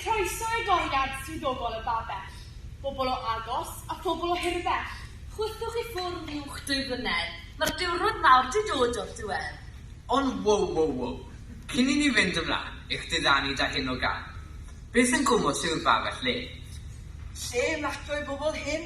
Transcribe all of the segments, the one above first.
Croeso i goriad swyddogol y Babell, bobl o agos a phobl o hirfell. Chwythwch i ffwrdd uwch dwy flynedd, mae'r diwrnod mawr 'di dod o'r diwedd. Ond wow wow wow, cyn i ni fynd ymlaen i'ch diddanu 'da hyn o gân, beth yn gwmws yw'r Babell le? Lle nad o'i bobl hŷn?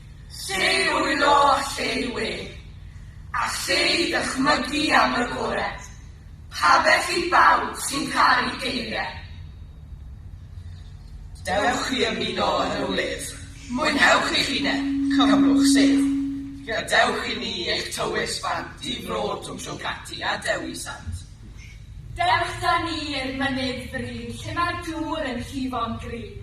Lleihwyllo a lleu wedd, a lleu dychmygu am yr agored, pa beth i bawb sy'n caru geiriau. Dewch i ymuno yn y wledd, mwynhewch eich hunain, cymrwch sedd, gadewch i ni eich tywys bant i fro Twmsiongati a Dewi Sant. Dewch 'da ni i'r mynydd fryn lle mae'r dŵr yn llifo'n gryf,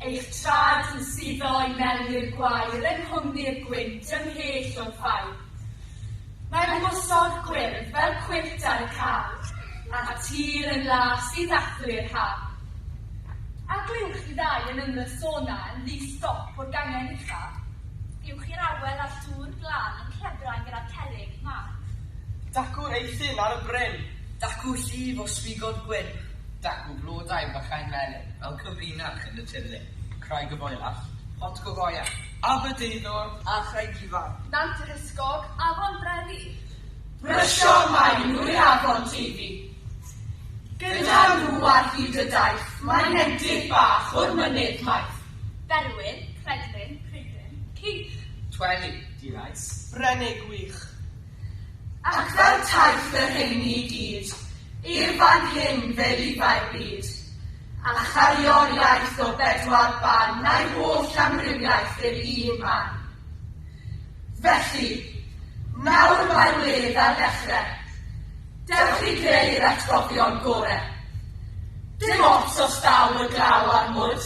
eich traed yn suddo i mewn i'r gwair yng nghwmni'r gwynt ymhell o'r ffaith. Mae mwsog gwyrdd fel cwyllt ar y car, a'r tir yn las i ddathlu'r haf. A glywch chi ddau yn ymyrsona yn ddi stop o'r gangen ucha? Uwch i'r awel a'r dŵr glân yn clebrau gyda cerrig mawr. Dacw Eithin ar y bryn. Dacw llif o swigod gwyn. Dacw blodau bychain melyn. Fel cyfrinach yn y tirlun. Craig y Boelach, Pont Cogoian, Aberdeinwr a Chraig Ifan. Nant y Hysgog, Afon Brefi. Brysiodd Maen Nwy Afon Teifi. Gyda nhw ar hyd y daith. Mae nentydd bach o'r mynydd maith. Berwyn, Credlyn, Pridyn, Cych. Tweli, Dirais, Brenig Wych. Ac fel taith y rheini i gyd, i'r fan hyn fe lifai'r byd, a chario'r iaith o bedwar ban, na'i holl amrywiaeth i'r un man. Felly, nawr mae'r wledd ar ddechrau. Dewch i greu'r atgofion gore. Dim ots os daw y glaw a'r mwd.